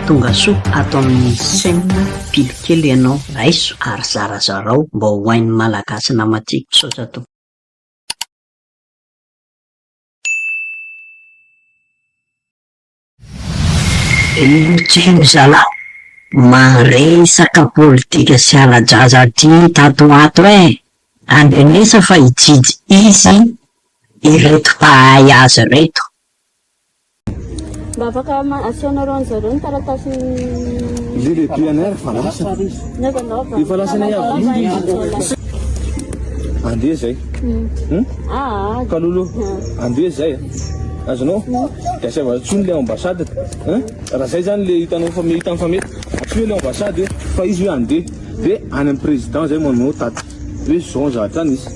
Tongasoa ato amin'ny chaîne pily kely ianao raiso ary zarazarao mba ho hain'ny malagasy namantsika. Misaotra tompoko. Herim-tsiny zalah, maresaka politika sy ala-jaza aty tato ho ato eh! Andrinesa fa hijijy izy ireto mpahay azy ireto. Mba afaka asehonareo anjareo ny taratasin'ny Lily et PNR fa lasa. Neza nao fa. Efa lasa nay avy iny izy. Andeha zay. Hmm? Ah. Kalolo. Andeha zay. Azonao? Dia asaiva tsony le ambassade. Hein? Raha zay zany le hitanao fa mety fa mety. Asio le ambassade fa izy hoe andeha. Dia any amin'ny président zay manao taty. Hoe zao zatra nisy.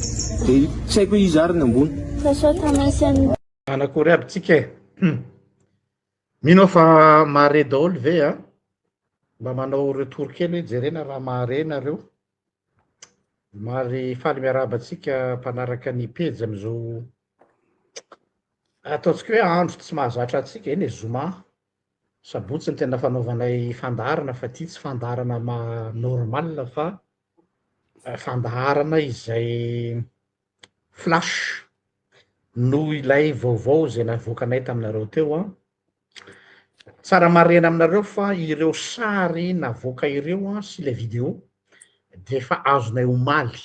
Dia saiko hoe izy ary ny ambony. Fa sao tamasin'ny Manakory aby tsika e! Mino aho fa mahare daholo ve a? Mba manao retour kely hoe jerena raha mahare nareo. Mari faly miarahaba antsika mpanaraka ny pejy amin'izao ataontsika hoe andro tsy mahazatra antsika, eny e, zoma, sabotsy no tena fanaovanay fandaharana fa ity tsy fandaharana maha normal fa fandaharana izay Flash, noho ilay vaovao izay navoakanay taminareo teo an! Tsara marihana aminareo fa ireo sary navoaka ireo an sy ilay video dia efa azonay omaly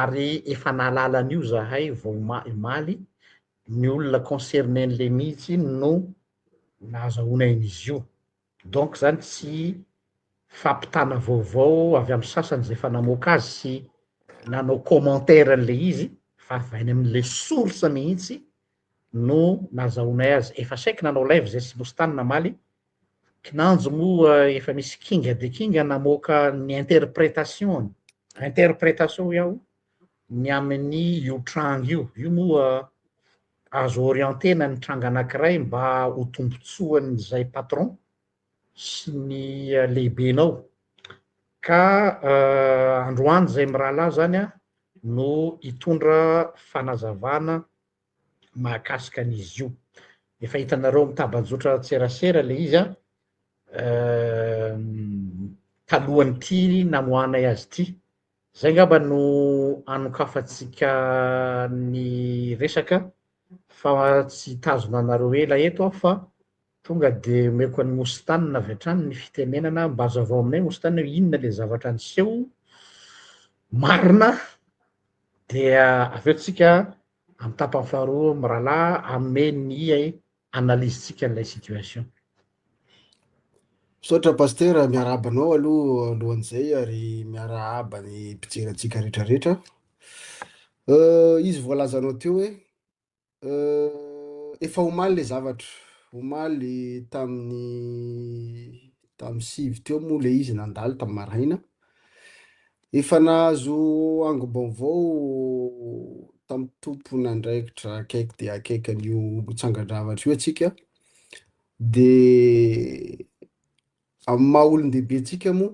ary efa nahalala an'io zahay vao omaly, ny olona concerner-n'le mihitsy no nahazahoana an'izy io. Donc zany tsy fampitana vaovao avy amin'ny sasany izay efa namoaka azy sy nanao commentaire an'ilay izy fa avy any amin'ilay source mihitsy no nazahoanay azy. Efa saiky nanao live izay Sibostany namaly, kinanjo moa efa misy kinga dia kinga namoaka ny interpretation-ny, interpretation hoy aho, ny amin'ny io tranga io, io moa Azo orienter-na ny tranga anankiray mba ho tombontsoan'izay patron sy ny lehibenao. Ka androany izay mirahalahy izany no hitondra fanazavana mahakasika an'izy io. Efa hitanareo mitaba-jotran-tserasera ilay izy talohan'ity namoahanay azy ity. Izay angamba no anokafantsika ny resaka fa tsy hitazona anareo ela eto aho fa tonga dia omeko an'i Moustane avy hatrany ny fitenenana. Mba hazavao aminay Moustane hoe inona ilay zavatra niseho marina dia avy eo tsika amin'ny tapany faharoa mirahalahy hanome ny analyse tsika an'ilay situation. Misaotra Pasitera, miarahaba anao aloha alohan'izay ary miarahaba ny mpijery antsika rehetra rehetra. Izy voalazanao teo hoe efa omaly le zavatra, omaly tamin'ny tamin'ny sivy teo moa le izy nandalo tamin'ny maraina. Efa nahazo angom-baovao tamin'ny tompon'andraikitra akaiky dia akaiky an'io tsangan-javatra io antsika dia amin'ny maha olon-dehibentsika moa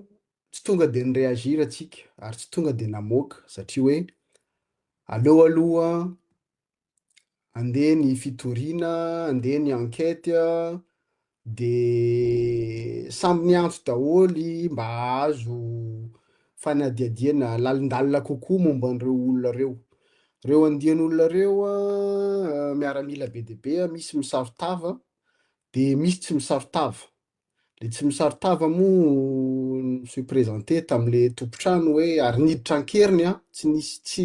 tsy tonga dia ni-réagir antsika ary tsy tonga dia namoaka satria hoe aleo aloha andeha ny fitoriana, andeha ny enquête, de samy niantso daholo mba hahazo fanadihadiana lalindalina kokoa momba an'ireo olona ireo. Ireo andian'olona ireo miaramila be dia be, misy misaro-tava, dia misy tsy misaro-tava. Le tsy misaron-tava moa ny feu présenté tamin'ilay tompon-trano hoe ary niditra an-keriny an, tsy nisy tsy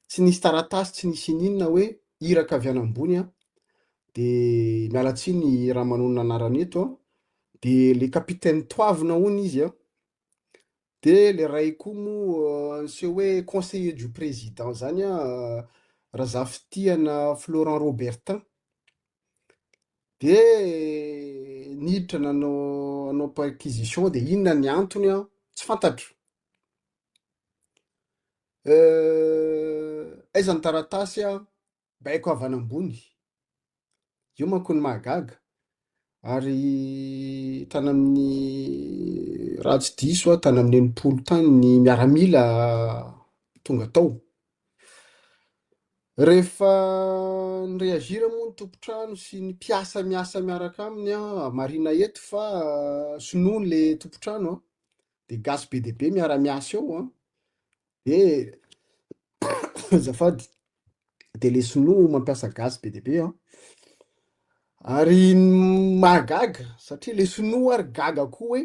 tsy nisy taratasy, tsy nisy ininona hoe iraka avy any ambony an. De miala tsiny raha manonona anarana eto an. De le capitaine Toavina hono izy an. Dia ilay iray koa moa niseho hoe conseiller du président izany an, Razafitiana Florent Robertin. Dia niditra nanao nanao perquisition dia inona ny antony an, tsy fantatro. Aiza ny taratasy an? Baiko avy any ambony. Io manko no mahagaga. Ary tany amin'ny, raha tsy diso aho, tany amin'ny enimpolo tany ny miaramila tonga tao. Rehefa ni-reagir moa ny tompon-trano sy ny mpiasa miasa miaraka aminy, marihina eto fa sinoa ilay tompon-trano dia gasy be dia be miara-miasa eo, De azafady de le sinoa mampiasa gasy be dia be an! ary mahagaga satria le sinoa ary gaga koa hoe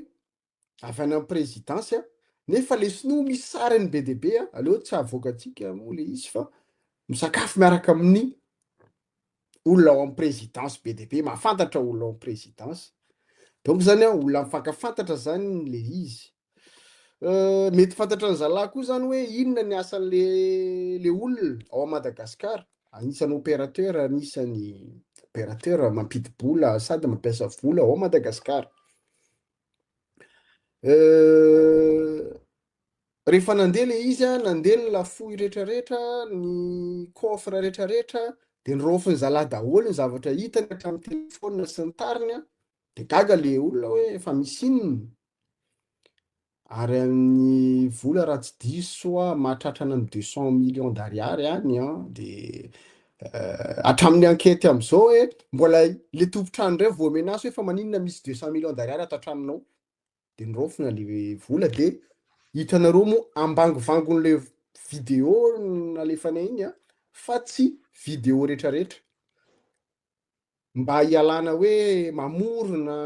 avy any am prezidansy an! nefa le sinoa misy sariny be dia be an! aleo tsy havoakantsika moa le izy fa misakafo miaraka amin'ny olona ao amin'ny présidence be dia be mahafantatra olona ao amin'ny présidence donc zany a olona mifankafantatra zany le izy euh, mety fantatra ny zalahy koa zany hoe inona ny asan'le le olona ao a Madagascar anisan'ny opérateur anisan'ny opérateur mampidi-bola sady mampiasa vola ao Madagascar euh, Rehefa nandeha ilay izy an, nandeha ny lafoy rehetrarehetra, ny coffre rehetrarehetra, dia niraofin'ny zalahy daholo ny zavatra hitany hatramin'ny telefaonina sy ny tariny an, dia gaga ilay olona hoe efa misy inona? Ary amin'ny vola raha tsy diso aho mahatratra any amin'ny deux cent millions d'ariary any an, dia hatramin'ny ankety amin'izao hoe mbola ilay tompon-trano indray voa-menace hoe fa maninona misy deux cent millions d'ariary ato an-tranonao? de niraofina le vola de hitanareo moa ambangivangon'le video nalefanay iny a fa tsy video retraretra mba hialana hoe mamorona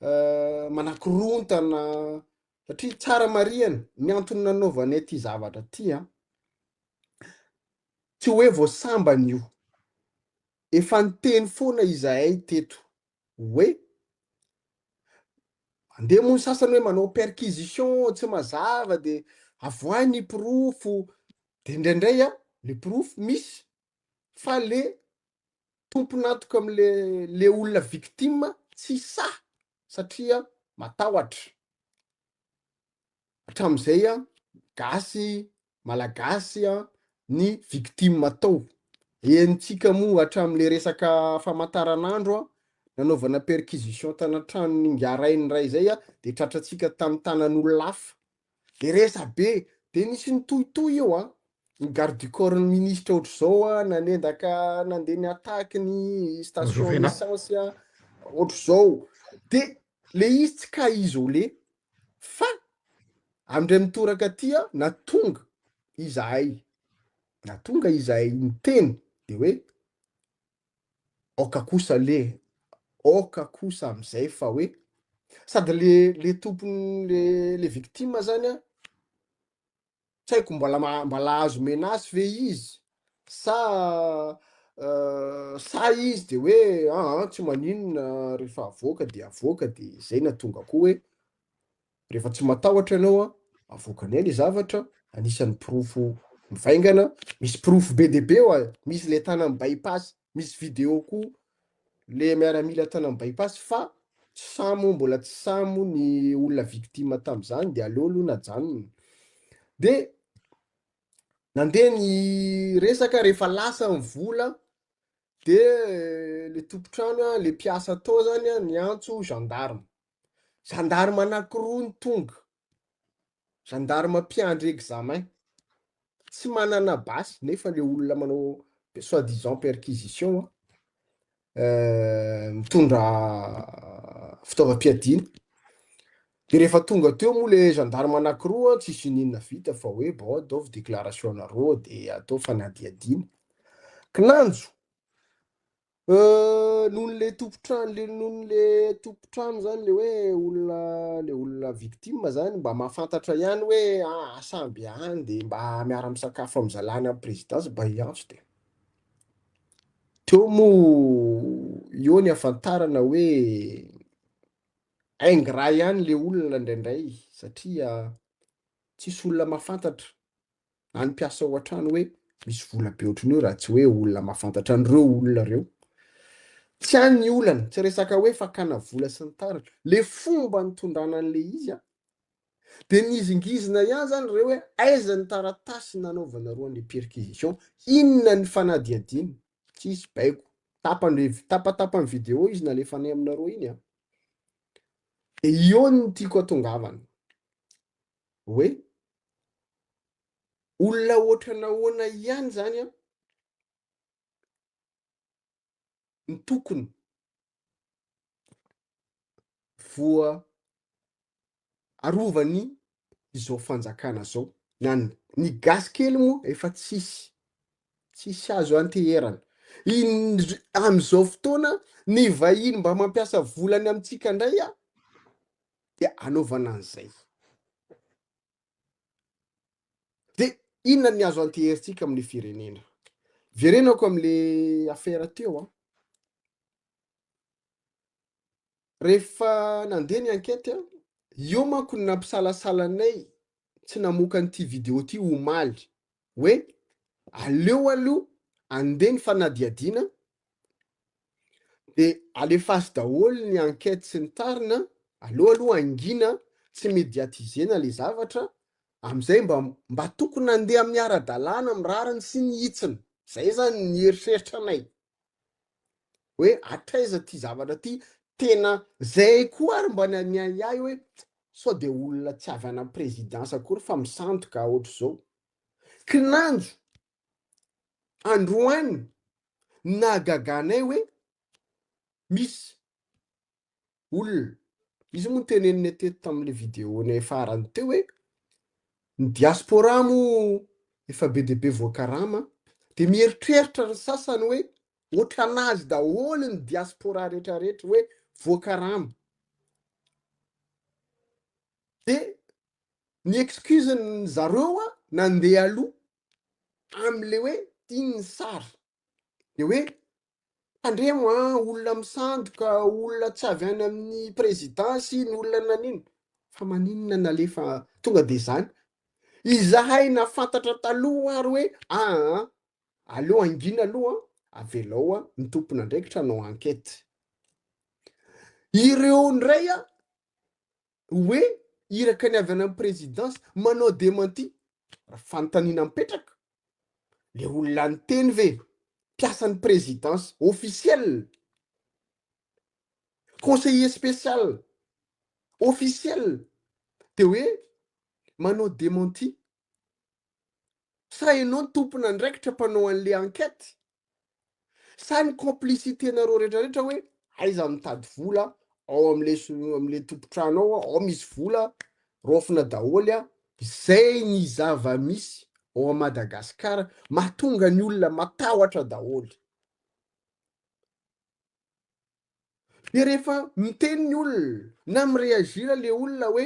euh, manakorontana satria tsara marihana ny antony nanaovanay ty zavatra ty a tsy hoe voasambana io efa niteny foana izahay teto hoe mandeha moa ny sasany hoe manao perquisition tsy mazava de avoahy ny porofo de indraindray a le porofo misy fa le tompon'antoka amle le olona victime tsy sahy satria matahotra hatramin'izay an, gasy, malagasy an, ny victime tao. Henontsika moa hatramin'ilay resaka famantaranandro an, nanaovana perquisition tana tranon'ny Ingarainy iray izay an, dia tratrantsika tamin'ny tanan'olona hafa. Dia resabe, dia nisy nitohitohy eo an, ny garde du corps ny ministra ohatr'izao an, nanendaka nandeha ny attaque ny station Rovena. essence an, ohatr'izao. Dia le izy tsy cas isolé, Fa amindray mitoraka aty aho na tonga izahay na tonga izahay niteny dia hoe aoka kosa le aoka kosa amin'izay fa hoe sady le le tompony le le victime zany a Tsy haiko mbola ma- mbola azo menace ve izy sa euh, sa izy de hoe aa tsy maninona rehefa avoaka de avoaka de zay na tonga koa hoe rehefa tsy matahotra ianao a avoaka anay le zavatra anisan'ny porofo mivaingana misy porofo be dia be oa misy le tana amin'ny bypass misy video koa le miaramila tany amin'ny bypass fa tsy sahy moa mbola tsy sahy moa ny olona victime tamin'izany dia aleo aloha najanona dia nandeha ny resaka rehefa lasa ny vola dia eh, le tompontrano le mpiasa tao zany niantso gendarme gendarme anankiroa ny tonga Gendarme mpiandry examen. Tsy manana basy nefa le olona manao soit disant perquisition euh, mitondra fitaovam-piadiana. Dia rehefa tonga teo moa le gendarme anankiroa tsisy inina vita fa hoe bon ataovy déclaration nareo dia atao fanadihadiana. Kinanjo Euh, noho le tompon-trano le noho le tompon-trano zany le hoe olona le olona victime zany mba mahafantatra ihany hoe ah samby any de mba miara misakafo amin'ny zalany amin'ny présidence mba hiantso de teo moa eo ny afantarana hoe ingrat ihany le olona indraindray satria tsisy olona mahafantatra na ny mpiasa ao an-trano hoe misy vola be ohatry ny hoe raha tsy hoe olona mahafantatra an'ireo olona ireo. Tsy any ny olana, tsy resaka hoe fakana vola sy ny tariny. Le fomba nitondrana an'le izy an, dia nizingizina ihany zany ireo hoe aiza ny taratasy nanaovanareo an'le perquisition, inona ny fanadihadiana, tsisy baiko, tapany, tapatapany vidéo izy nalefanay aminareo iny an. Dia io no tiako atongavana. hoe olona hoatra nahoana ihany zany an no tokony voa arovany izao fanjakana zao na ny gasy kely moa efa tsisy tsisy azo anteherana amizao fotoana ny vahiny mba mampiasa volany amintsika ndray an dia anaovana an'izay. Dia inona ny azo anteherintsika amin'ny firenena? Verenako amin'le afera teo an. Rehefa nandeha ny enquête, io manko ny nampisalasalanay tsy namoaka an'ity vidéo ity omaly hoe aleo aloha andeha ny fanadihadiana dia alefaso daholo ny enquête sy ny tariny an, aleo aloha hangina tsy mediatiser-na ilay zavatra amin'izay mba mba tokony handeha amin'ny ara-dalàna amin'ny rariny sy ny hitsiny, izay izany ny eritreritranay. hoe hatraiza ty zavatra ty, tena zay koa ary mba nianiahy ahy hoe sao de olona tsy avy any am présidence akory fa misandoka ohatr'izao. Kinanjo androany nahagaga anay hoe misy olona. Izy io moa noteneniny teto tamin'ilay vidéo-nay farany teo hoe ny diaspora moa efa be dia be voakarama dia mieritreritra ny sasany hoe ohatranazy daholo ny diaspora rehetrarehetra hoe voakarama. Dia ny excuse-ny zareo nandeha aloha amin'ilay hoe iny ny sary dia hoe Tandremo an, olona misandoka, olona tsy avy any amin'ny présidence iny, olona nanino, fa maninona nalefa tonga dia izany? Izahay nafantatra taloha ary hoe aa, aleo hangina aloha an, avelao an, ny tompon'andraikitra hanao enquête. Ireo indray an, hoe iraka ny avy any amin'ny présidence manao démenti? Raha fanontaniana mipetraka, le olona niteny ve mpiasan'ny présidence officiel, conseiller spécial officiel de hoe manao démenti Sa enao no tompon'andraikitra mpanao an'le enquête? Sa ny complicité nareo rehetra rehetra hoe aiza mitady vola ao amle amle tompotrano ao ao misy vola raofina daholo a! Zay ny zava-misy ao a Madagascar mahatonga ny olona matahotra daholo. De rehefa miteny ny olona na mi-reagir le olona hoe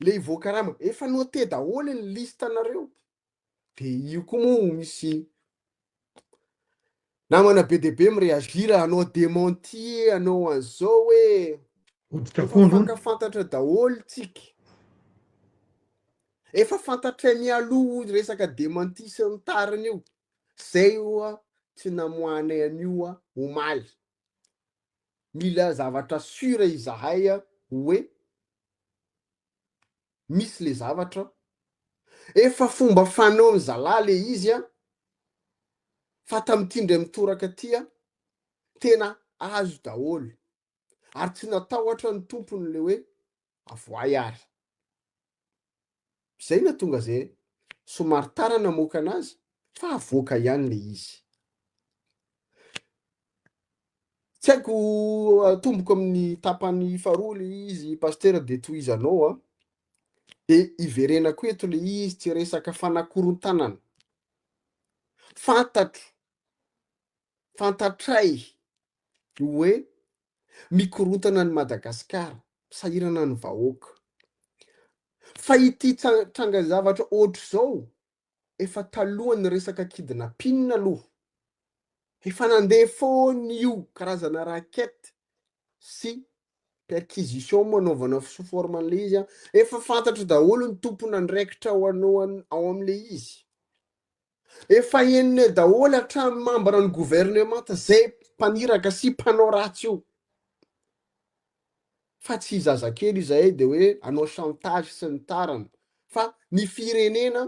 le hivoaka raha ma, efa note daholo ny liste nareo, de io koa moa ho misy namana be dia be mi reagir hanao dementi hanao an'zao hoe efa mifankafantatra daholo tsika, efa fantatray mialoha io resaka dementi sy ny tariny io, zay oa tsy namoahanay an'io oa omaly. Mila zavatra sûr izahay hoe misy le zavatra, efa fomba fanaon'ny zalahy le izy an, fa tamin'ity indray mitoraka ity an, tena azo daholo, ary tsy natahotra ny tompony le hoe avoay ary. Zay natonga ze somary tara namoaka anazy fa avoaka ihany le izy. Tsy haiko atomboko amin'ny tapany faharoa le izy Pasteur de tohizanao a. De iverenako eto le izy tsy resaka fanakorontanana. Fantatro, fantatray hoe mikorontana an'i Madagascar, sahirana ny vahoaka. Fa ity trangan-javatra ohatr'izao efa talohan'ny resaka kidnapping aloha. Efa nandeha foana io karazana raquette sy perquisition moa anaovana sous forme an'ilay izy an. Efa fantatro daholo ny tompon'andraikitra ao ao amin'ilay izy. Efa henone daholo hatrany membre ny gouvernemanta zay mpaniraka sy mpanao ratsy io. Fa tsy zazakely izahay de hoe anao chantage sy ny tariny fa ny firenena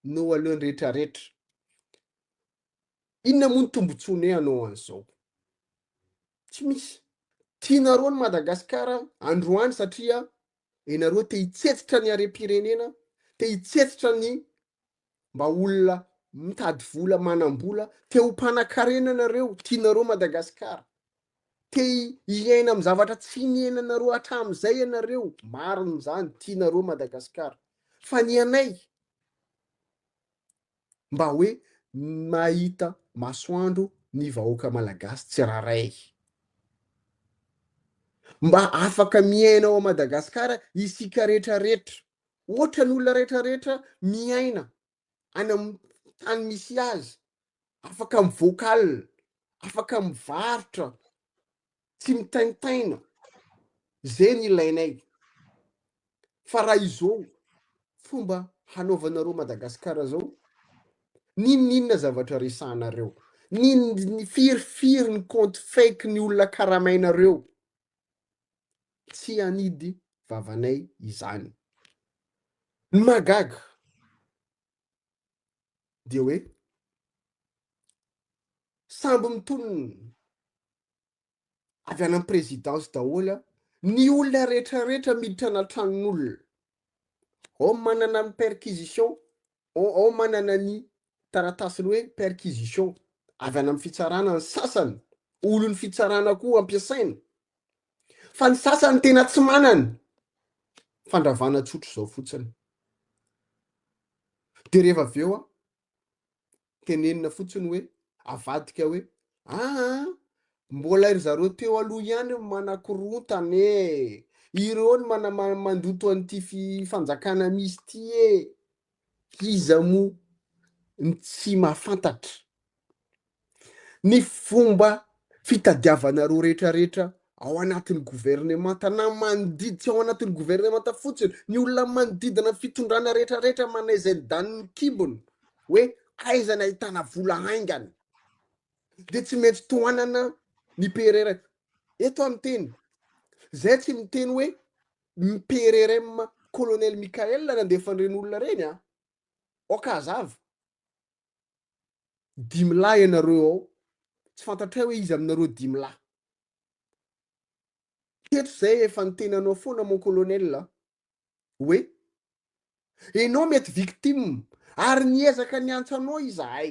no alohan'ny rehetra rehetra. Inona moa ny tombontsoanay anao an'izao? Tsy misy. Tianareo ny Madagascar androany satria Ianareo te hitsetsitra ny harem-pirenena, te hitsetsitra ny mba olona mitady vola, manam-bola, te ho mpanakarena ianareo, tianareo Madagasikara, te hiaina amin'ny zavatra tsy niainanareo hatramin'izay ianareo, marina izany, tianareo Madagasikara. Fa ny anay, mba hoe mahita masoandro ny vahoaka malagasy tsirairay. Mba afaka miaina ao Madagasikara isika rehetra rehetra, ohatra ny olona rehetra rehetra miaina any amin'ny tany misy azy, afaka mivoaka alina, afaka mivarotra, tsy mitaintaina zay ny ilainay fa raha izao fomba hanaovanareo madagasikara zao ninoninona zavatra resahanareo niny firifiry ny compte fake ny olona karamainareo tsy anidy vavanay izany ny magaga dia hoe samby mitonona avy any amin'ny présidence daholo ny olona rehetra rehetra miditra ana tranon'olona ao manana ny perquisition ao manana ny taratasiny hoe perquisition avy any amin'ny fitsarana ny sasany olon'ny fitsarana koa ampiasaina fa ny sasany tena tsy manana fandravana tsotra izao fotsiny dia rehefa avy eo a Tenenina fotsiny hoe, avadika hoe, aa, mbola ry zareo teo aloha ihany no manakorontana e! Ireo no manamandoto an'ity fanjakana misy ity e! Iza moa no tsy mahafantatra ny fomba fitadiavanareo rehetrarehetra ao anatin'ny governemanta na manodidy tsy ao anatin'ny governemanta fotsiny, ny olona manodidina ny fitondrana rehetrarehetra manao izay ny danin'ny kibony hoe aiza ny ahitana vola haingana dia tsy maintsy tohanana ny PRRM. Eto aho miteny, zay tsy miteny hoe ny PRRM Colonel Michael nandefa an'ireny olona ireny a. Aoka hazava. Dimy lahy ianareo ao, tsy fantatray hoe iza aminareo dimy lahy. Teto zay efa ny tenanao foana mon colonel a. Hoe enao mety victime ary niezaka niantsa anao izahay.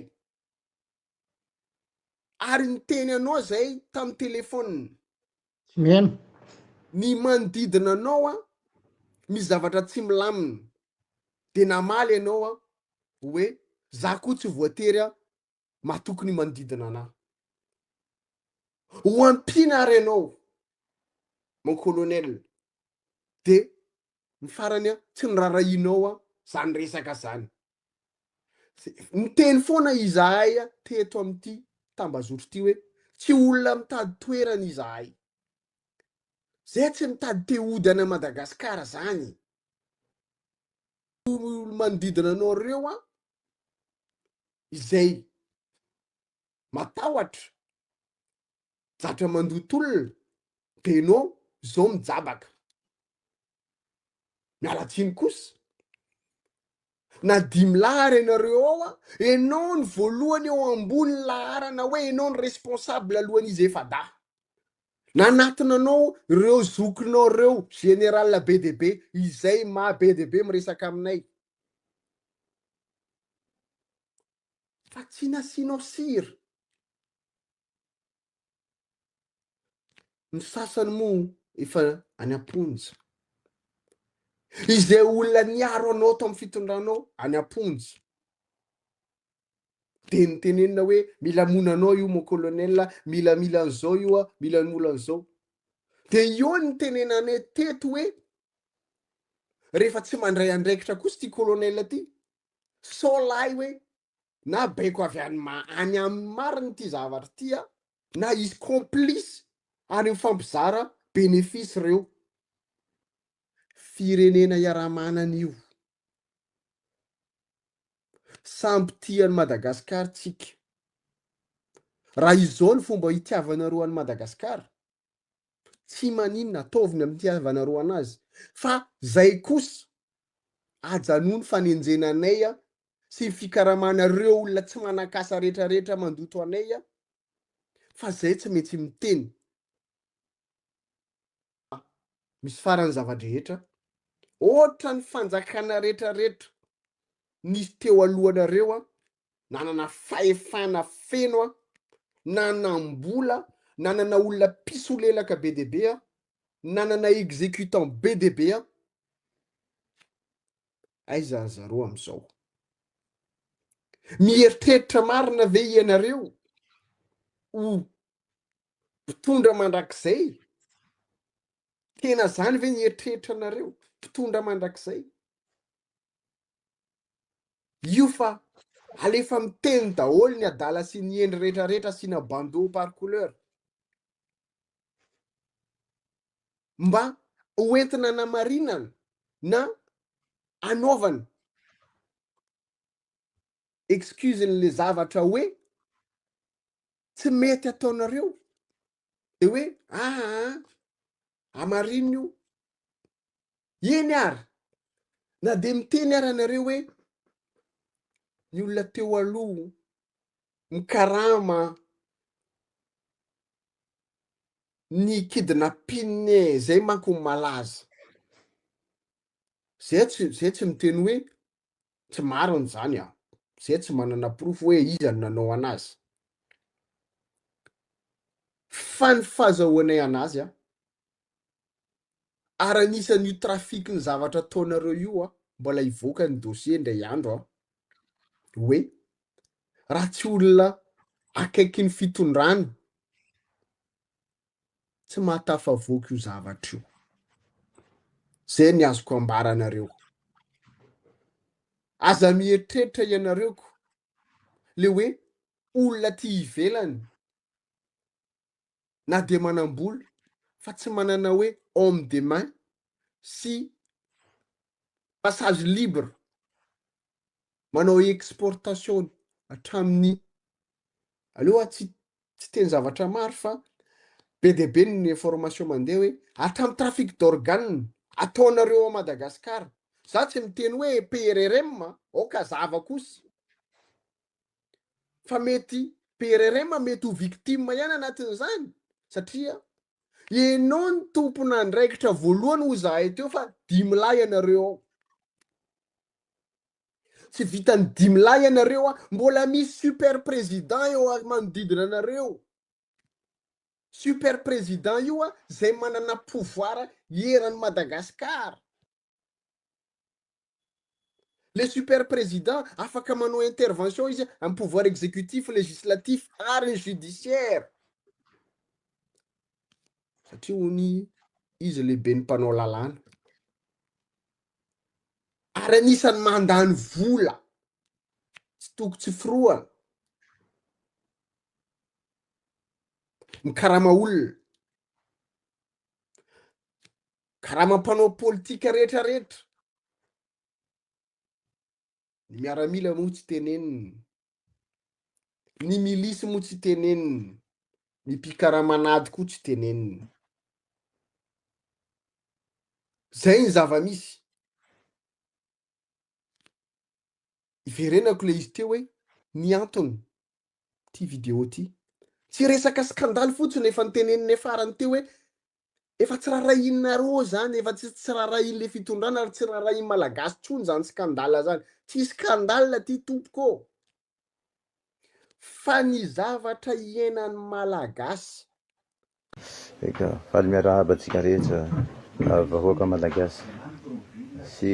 Ary niteny anao zay tamin'ny telephone. Amen. Ny manodidina anao an, misy zavatra tsy milamina, dia namaly ianao an, hoe za koa tsy voatery an, matoky ny manodidina anah. Ho ampiana ary ianao, mon colonel, dia ny farany an, tsy norarahianao an, zany resaka zany. Niteny foana izahay teto amin'ity tambazotra ity hoe tsy olona mitady toerana izahay. Zay tsy mitady te hody ana Madagasikara zany. Manodidina anareo a izay matahotra zatra mandoa tolona de no zao mijabaka. Miala tsiny kosa. Na dimy lahy ary ianareo ao a, ianao ny voalohany eo ambony laharana hoe ianao ny responsable alohan'izy efa-dahy. Nanatona anao ireo zokinao ireo, général be dia be, izay maha be dia be miresaka aminay. Fa tsy nasianao sira. Ny sasany moa efa any am-ponja. Izay olona niaro anao tao amin'ny fitondranao any am-ponja. Dia nitenenina hoe mila mona anao io mon colonel, mila mila an'izao io, mila mila an'izao. Dia io ny tenenanay teto hoe rehefa tsy mandray andraikitra kosa ity colonel ity. Sao lahy hoe na baiko avy any ma any aminy marina ity zavatra ity a na izy complice any am fampizara benefice reo firenena iaraha manana io samby tia any Madagascar tsika raha izao ny fomba hitiavanareo any Madagascar tsy maninona ataovy ny amin'ny tiavanareo anazy fa zay kosa ajanony fanenjena anay a sy ny fikaramanareo olona tsy manan-kasa rehetra rehetra mandoto anay a, fa zay tsy maintsy miteny fa misy farany zava-drehetra, ohatra ny fanjakana rehetra rehetra nisy teo alohanareo a, nanana fahefana feno a, nanam-bola, nanana olona mpisolelaka be dia be a, nanana executant be dia be a, Aiza ry zareo amin'izao? Mieritreritra marina ve ianareo ho mpitondra mandrakizay? Tena izany ve ny eritreritra anareo? Mpitondra mandrakizay? Io fa alefa miteny daholo ny adala sy ny endry rehetrarehetra asiana bandeau par couleur. mba ho entina hanamarinana na hanaovana excuse an'ilay zavatra hoe tsy mety ataonareo dia hoe aa ah, hamarino io eny ary na dia miteny ary anareo hoe ny olona teo aloha mikarama ny kidnapping e, zay manko no malaza. Zay tsy zay tsy miteny hoe tsy marina izany aho. Zay tsy manana porofo hoe iza no nanao anazy. Fa ny fazahoanay anazy a, ary anisan io trafic ny zavatra ataonareo io a, mbola hivoaka ny dossier indray andro a, hoe raha tsy olona akaiky ny fitondrana tsy mahatafavoaka io zavatra io, zay ny azoko ambara anareo, aza mieritreritra ianareo ko le hoe olona aty ivelany na dia manam-bola fa tsy manana hoe homme de main sy passage libre manao exportation hatramin'ny aleo aho tsy tsy teny zavatra maro fa be dia be ny information mandeha hoe hatramin'ny trafic d'organes ataonareo ao Madagascar za tsy miteny hoe PRRM aoka zava kosa fa mety PRRM mety ho victime ihany anatin'izany satria ianao ny tompon'andraikitra voalohany hoy zahay teo fa dimy lahy ianareo ao tsy vitan'ny dimy lahy ianareo a mbola misy super président eo a manodidina anareo super président io a zay manana pouvoir eran'i Madagasikara Le super président afaka manao intervention izy am pouvoir exécutif, législatif ary ny judiciaire. Satria ony izy lehibe ny mpanao lalàna. Ary anisany mandany vola tsy toko tsy firohana. Mikarama olona. karama mpanao politika rehetra rehetra ny miaramila moa tsy teneniny ny milisy moa tsy teneniny ny mpikaramanady koa tsy teneniny zay ny zava-misy iverenako le izy teo hoe ny antony ty video ty tsy resaka skandaly fotsiny efa nyteneniny farany teo hoe Efa tsy rarahianareo izany, efa tsy tsy rarahian'ilay fitondrana ary tsy rarahian'ny Malagasy intsony izany scandale izany. Tsy scandale ity tompoko ô! Fa ny zavatra iainan'ny Malagasy. Eka, faly miarahaba antsika rehetra vahoaka Malagasy sy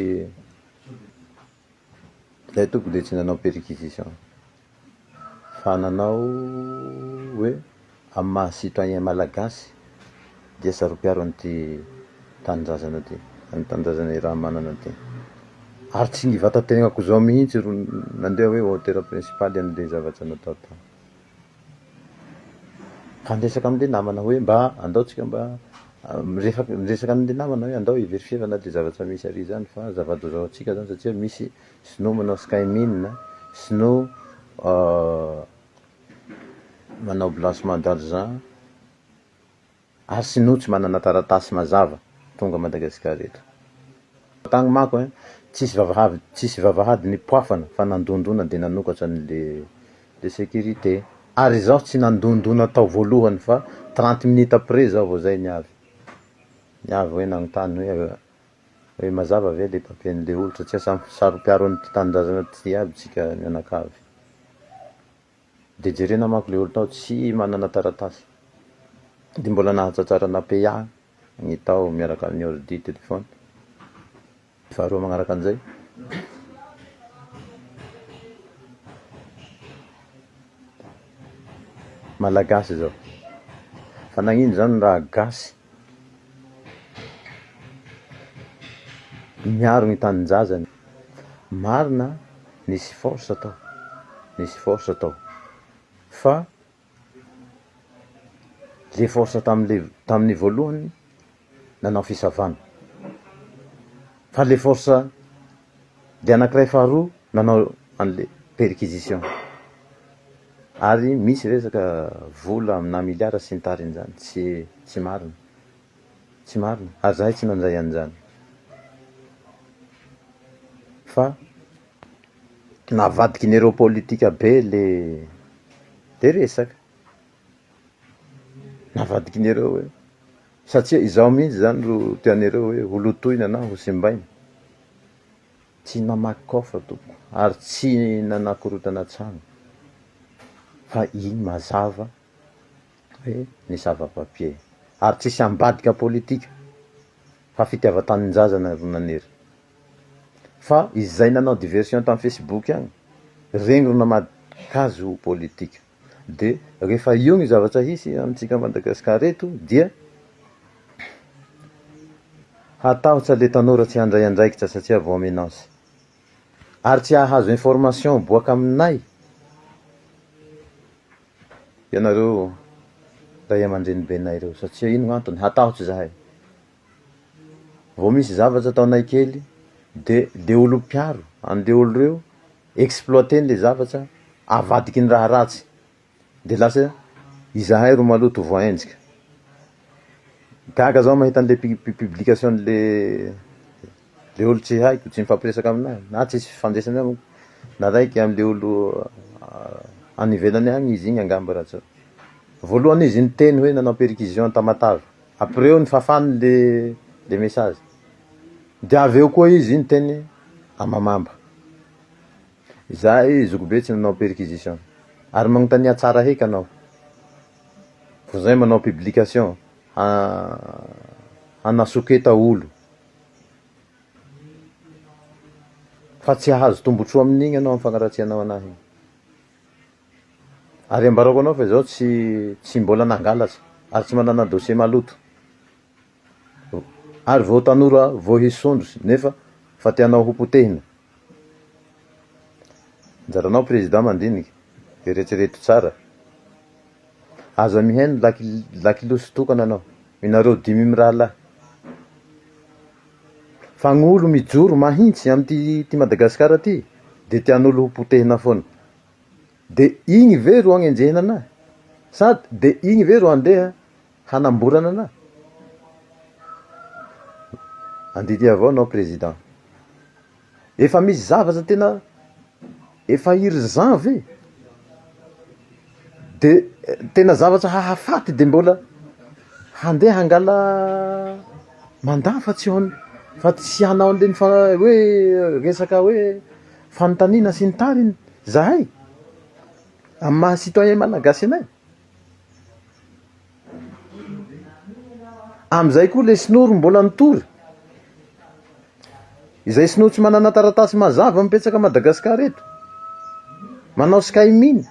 ilay tompoko dia tsy nanao perquisition. fa nanao hoe amin'ny maha citoyen malagasy dia saropiaro an'ity tanindrazana ty, an'i tanindrazana Irahamanana ty. Ary tsy ny vatategnako izao mihitsy ro nandeha hoe auteur principal an'ilay zavatra natao tao. Fa niresaka amin'ilay namana hoe mba andao tsika mba miresaka amin'ilay namana hoe andao hiverifier-na ilay zavatra misy ary izany fa zava-doza ho antsika izany satria misy Sinoa manao skymin, sinoa manao blanchement d'argent, ary sinoa tsy manana taratasy mazava tonga Madagascar eto. Tany mako eh, tsisy vavahady tsisy vavahady nipoafana fa nandondona de nanokatra ny le le securite. Ary izaho tsy nandondona tao voalohany fa trente minutes après izaho vao zay ny avy ny avy hoe nagnontany hoe. Hoe mazava ve le papier nle olo satria samy saro piaro ny tanindrazana ty aby tsika mianakavy. De jerena manko le olo tao tsy manana taratasy. De mbola nahatratrara napeya ny tao miaraka aminy ordi, telephone. Faharoa magnaraka anzay, malagasy zao fa nagnino zany raha gasy Niaro ny taninjazany. Marina nisy force tao, nisy force tao fa le force tamle tamin'ny voalohany nanao fisavana fa le force le anakiray faharoa nanao anle perquisition. Ary misy resaka vola amina miliara sy ny tariny zany tsy tsy marina tsy marina ary zahay tsy nandray an'izany fa navadiky ny ireo politika be le le resaka navadiky ny ireo hoe satsia izaho mihitsy zany ro tian'ireo hoe ho lotoina na ho simbaina Tsy namaky coffre tompoko ary tsy nanakorotana trano fa iny mazava hoe ny sava papier ary tsisy ambadika politika fa fitiavan-tanindrazana ry Naniry fa izay nanao diversion tam Facebook agny rengron'amadikazo politika. Dia rehefa io ny zavatra hisy amintsika Madagascar eto dia hatahotra le tanora tsy handray andraikitra satria vao menace. Ary tsy hahazo information boaka aminay ianareo ray aman-drenibenay reo satria ino no antony? Hatahotra zahay. Vao misy zavatra ataonay kely dia le olom-piaro anle olo reo exploiter-ny le zavatra, avadiky ny raha ratsy, de lasa izahay ro maloto ho voahenjika. Gaga zaho mahita an'le publication-n'le le olo tsy haiko, tsy mifampiresaka aminahy, na tsisy fifandraisany amiko, na raiky am'le olo any ivelany any izy igny angamba raha tsy, voalohany izy niteny hoe nanao perquisition an-Tamatave. Après eo ny fafany le le message de avy eo koa izy niteny amamamba izahay zokibe tsy nanao perquisition ary magnontania tsara heky anao vao zay manao publication ha hanasoketa olo fa tsy hahazo tombotsoa amin'igny anao am fagnaratsianao anahy igny. Ary ambarako anao fa izaho tsy tsy mbola nangalatra ary tsy manana dossier maloto. Ary vao tanora vao hisy sondros nefa fa tianao ho potehina. Anjaranao président mandinika, eretrereto tsara. Aza mihaino laky lakilosy tokana anao. Inareo dimy mirahalahy. Fa gny olo mijoro mahintsy amty ty Madagascar ty de tianolo ho potehina foana. de igny ve ro agnenjehina anah? Sady de igny ve ro handeha hanamborana anah? Andidy avao anao président. Efa misy zavatra tena efa urgent ve? De tena zavatra hahafaty de mbola handeha hangala mandat fa tsy ho an- fa tsy hanao an'ireny fa hoe resaka hoe. Fanontaniana sy ny tariny zahay amin'ny maha citoyen malagasy anay. Amin'izay koa ilay sinoa ry mbola nitory. Izay sinoa tsy manana taratasy mazava mipetsaka Madagascar eto. Manao sky mine.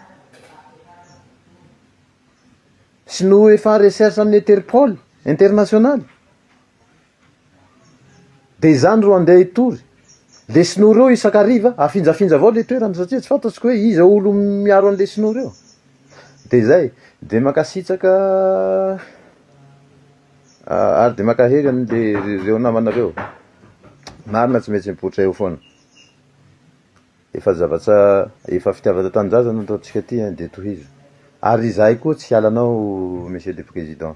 Sinoa efa recherche amin'ny Interpol international. Dia izany ro andeha hitory. Lesona ory eo isan-kariva, afinjafinja avao ilay toerana satria tsy fantatro koa hoe iza olo miaro an'i lesona ory eo. Dia izay, dia mankasitraka ary dia mankahery an'le reo namana reo. Marina tsy maintsy mipoitra eo foana. Efa zavatra, efa fitiavana tanindrazana ny ataontsika aty dia tohizo. Ary izahay koa tsy hiala anao Monsieur le Président.